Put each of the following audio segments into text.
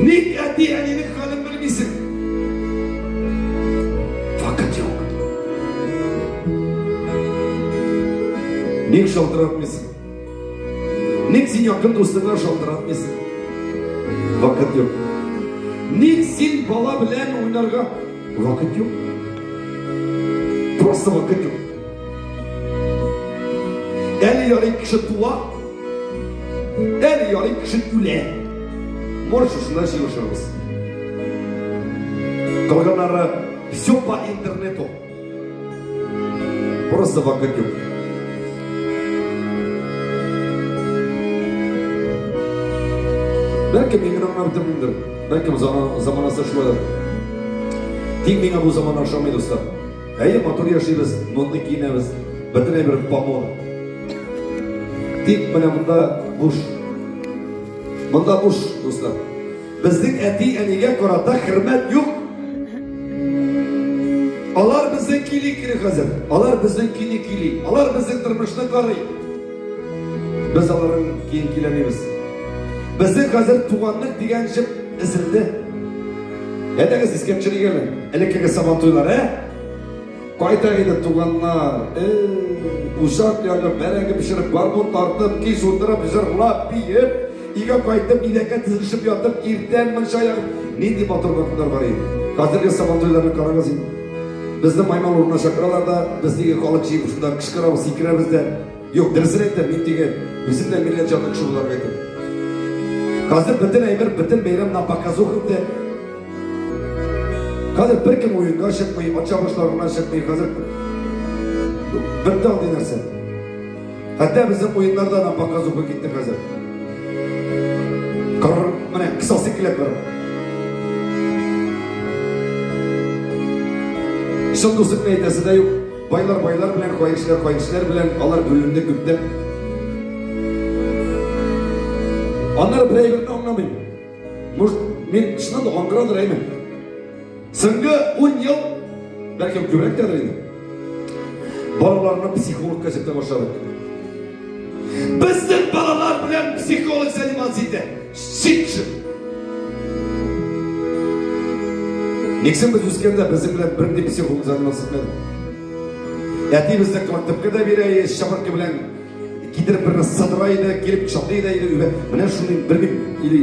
Ник әти әнинең хәлен белмисең? Вакыт юк. Ник шалтыратмыйсың? Ник син якын дустыңа шалтыратмыйсың? Вакыт юк. Ник син бала белән уйнарга? Вакыт юк. Просто вакыт юк. Әле ярый кеше туа, Әр ярый кеше үлә. Морщисына җыелышырбыз. Калганнары все по интернету. Просто вакыт юк. Бәлки мин генә гына бетермендер. Бәлки заманасы шулайдыр. Тик миңа бу заман ошамый, дуслар. Әйе, матур яшибез, мондый киенәбез. Бөтенләй бер помор. Тик менә монда буш. Монда буш, дуслар. Безнең әти әнигә карата хөрмәт юк. Алар безнең кили кили хәзер. Алар безнең кили кили. Алар безнең тормышны карый. Без аларның киен киләмибез. Безнең хәзер туганлык дигән җеп эзелде. Әйдәгез искә төшерик әле элеккеге сабантуйлар, ә? Кайтак иде, туганнар, э-э, учак ягып, бәрәңге пешереп, гармун тартып, кич утырып, җырлап, биеп, өйгә кайтып, идәнгә тезелешеп ятып, иртән мунча ягып, нинди матур вакытлар бар иде. Хәзерге сабантуйларны карагыз инде. Безне маймыл урынына чакыралар да, без нигә халык җыеп шунда кычкырабыз, сикерәбез дә. Юк, дөресен әйтәм, мин теге үзем дә милләт җанлы кеше буларак әйтәм. Хәзер бөтен әйбер, бөтен бәйрәм на показух инде. Хәзер бер кем уенга чыкмый, ача башларына чыкмый, хәзер бер тал нәрсә. Хәтта безнең уеннарда на показуха китте хәзер. Карар, менә кысасы килеп бар. Шундый сүзне әйтәсе дә юк. Байлар байлар белән, кайсылар кайсылар белән алар бүленде күптән. Аннары бер әйберне аңламыйм. Может, мин чыннан да аңгырадыр әйме? Соңгы 10 ел, бәлкем күбрәк тәдер инде. Балаларны психологка җитә башладык. Безнең балалар белән психолог заниматься итә. Сит! Нигсен без үскәндә безнең белән бер дип психолог заниматься итмәде. Әти безне коллективка да бирә, шабыркы белән китереп берне садыра иде, килеп кочаклый да иде. Менә шундый бер бит или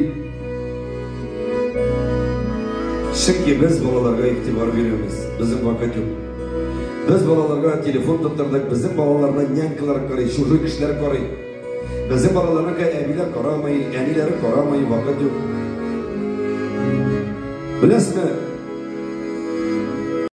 Чөнки без балаларга игътибар бирәбез. Безнең вакыт юк. Без балаларга телефон тоттырдык, безнең балаларны нянькалар карый, чужой кешеләр карый. Безнең балаларга әбиләр карамый, әниләре карамый, вакыт юк. Беләсме?